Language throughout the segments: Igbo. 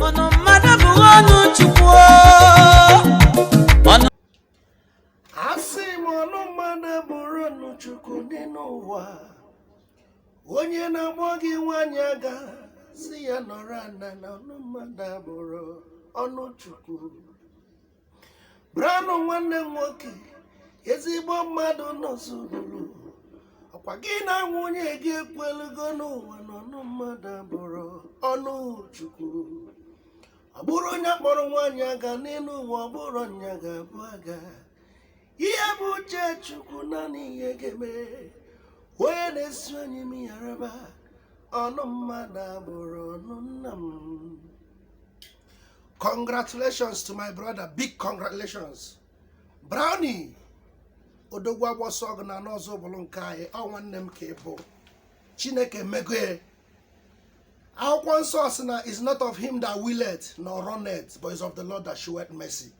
Ọnụ mmadụ bụ ọnụ Chukwu. Ọnụ asị m ọnụ mmadụ abụrọ ọnụ chukwu dị n'ụwa onye na-akpọ gị nwanyị aga sị ya nọrọ ana na ọnụ mmadụ abụrọ ọnụ chukwu Brownie nwanne m nwoke ezigbo mmadụ n'Ọzụbụlụ ọkwa gị na nwunye gị ekwelugo n'ụwa na ọnụ mmadụ abụrọ ọnụ chukwu ọ bụrọ onye kpọrọ nwaanyị aga n'elu ụwa ọ bụrụ nya ga-abụ aga ihe bụ uche chukwu naanị ihe ga-eme onye na-esi onye m ya raba ọnụ mmadụ abụrọ ọnụ nna m congratulations to my brother big congratulations brownie odogwu agbọsọ ọgụ ana n'Ọzụbụlụ nke anyị ọ nwanne m ka ị bụ chineke megoe akwụkwọ nsọ sị na is not of him that willeth nor runneth but is of the lord that showeth mercy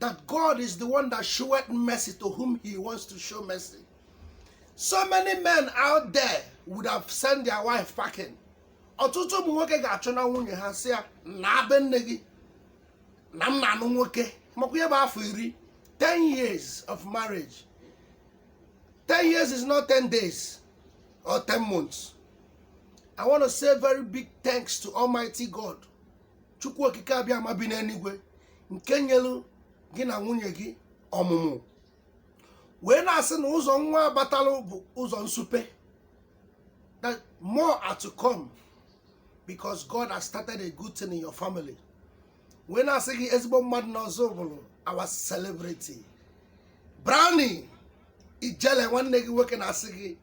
that God is the one that showeth mercy to whom he wants to show mercy. So many men out there would have sent their wife packing. ọtụtụ ụmụ nwoke ga-achụna nwunye ha sị ya naa be nne gị na m na-anụ nwoke makwa ihe bụ afọ iri 10 years of marriage 10 years is not 10 days or 10 months i want to say very big thanks to almighty god chukwu okike abịama bi n'eluigwe nke nyelu gị na nwunye gị ọmụmụ wee na-asị na ụzọ nwa batalụ bụ ụzọ nsupe that more are to come because God has started a good thing in your family wee na-asị gị ezigbo mmadụ n'Ọzụbụlụ our celebrity brownie ijele nwanne gị nwoke na-asị gị